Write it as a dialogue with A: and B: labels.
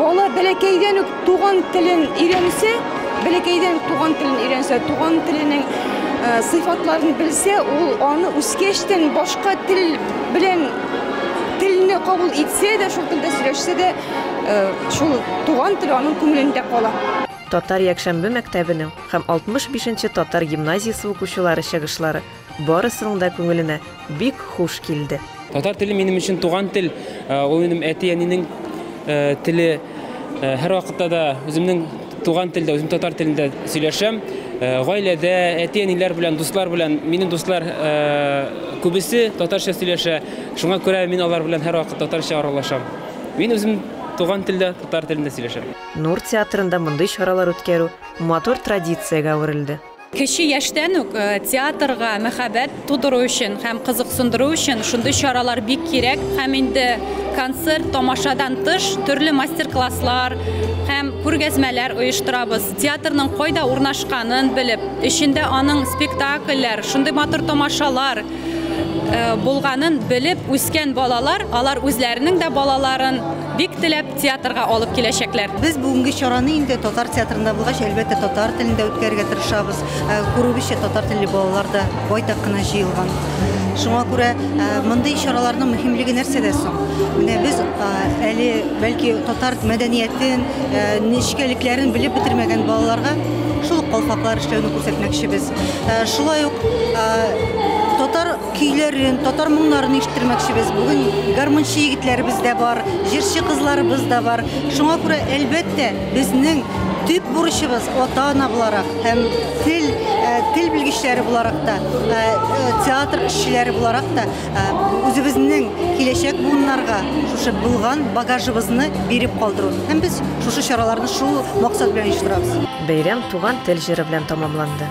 A: Бала бәләкәйдән
B: үк туган телен өйрәнсә, бәләкәйдән үк туган телен өйрәнсә, туган теленең э, сыйфатларын белсә, ул аны үскәчтән башка тел белән телне кабул итсә дә, шул телдә сөйләшсә дә, э, шул туган тел аның күңелендә кала. Татар якшәмбе
C: мәктәбенең һәм 65 нче татар гимназиясе укучылары чыгышлары Барысының да күңеленә бик хуш килде. Татар теле минем
D: өчен туган тел, ул минем әти-әнинең теле. Һәрвакытта да үземнең туган телдә, үзем татар телендә сөйләшәм. Гаиләдә, әти-әниләр белән, дуслар белән, минем дуслар күбесе татарча сөйләшә. Шуңа күрә мин алар белән һәрвакыт татарча аралашам. Мин үзем туган телдә, татар телендә сөйләшәм. Нур театрында
C: мондый чаралар үткәрү матур традициягә әверелде. Кече яшьтән
E: үк театрга мәхәббәт тудыру өчен һәм кызыксындыру өчен шундый чаралар бик кирәк һәм инде концерт, тамашадан тыш төрле мастер-класслар һәм күргәзмәләр оештырабыз. Театрның кайда урнашканын белеп, эчендә аның спектакльләр, шундый матур тамашалар булганын белеп үскән балалар, алар үзләренең дә балаларын бик теләп театрга алып киләчәкләр. Без бүгенге чараны
F: инде татар театрында булгач, әлбәттә, татар телендә үткәрергә тырышабыз. Ә, Күрүебезчә, татар телле балалар да байтак кына җыелган. Шуңа күрә ә, мондый чараларның мөһимлеге нәрсәдә соң? Менә без а, әле бәлки татар мәдәниятен, ә, нечкәлекләрен белеп бетермәгән балаларга шул ук калфаклар эшләүне күрсәтмәкчебез. Ә, Шулай ук а, татар көйләрен, татар моңнарын ишеттермәкчебез. Бүген гармунчы егетләребез дә бар, җырчы кызларыбыз да бар. Шуңа күрә, әлбәттә, безнең төп бурычыбыз ата-ана буларак һәм тел э, тел белгечләре буларак та, э, э, театр эшчеләре буларак та үзебезнең киләчәк буыннарга шушы булган багажыбызны биреп калдыру. Һәм без шушы чараларны шул максат белән оештырабыз. Бәйрәм туган
C: тел җыры белән тәмамланды.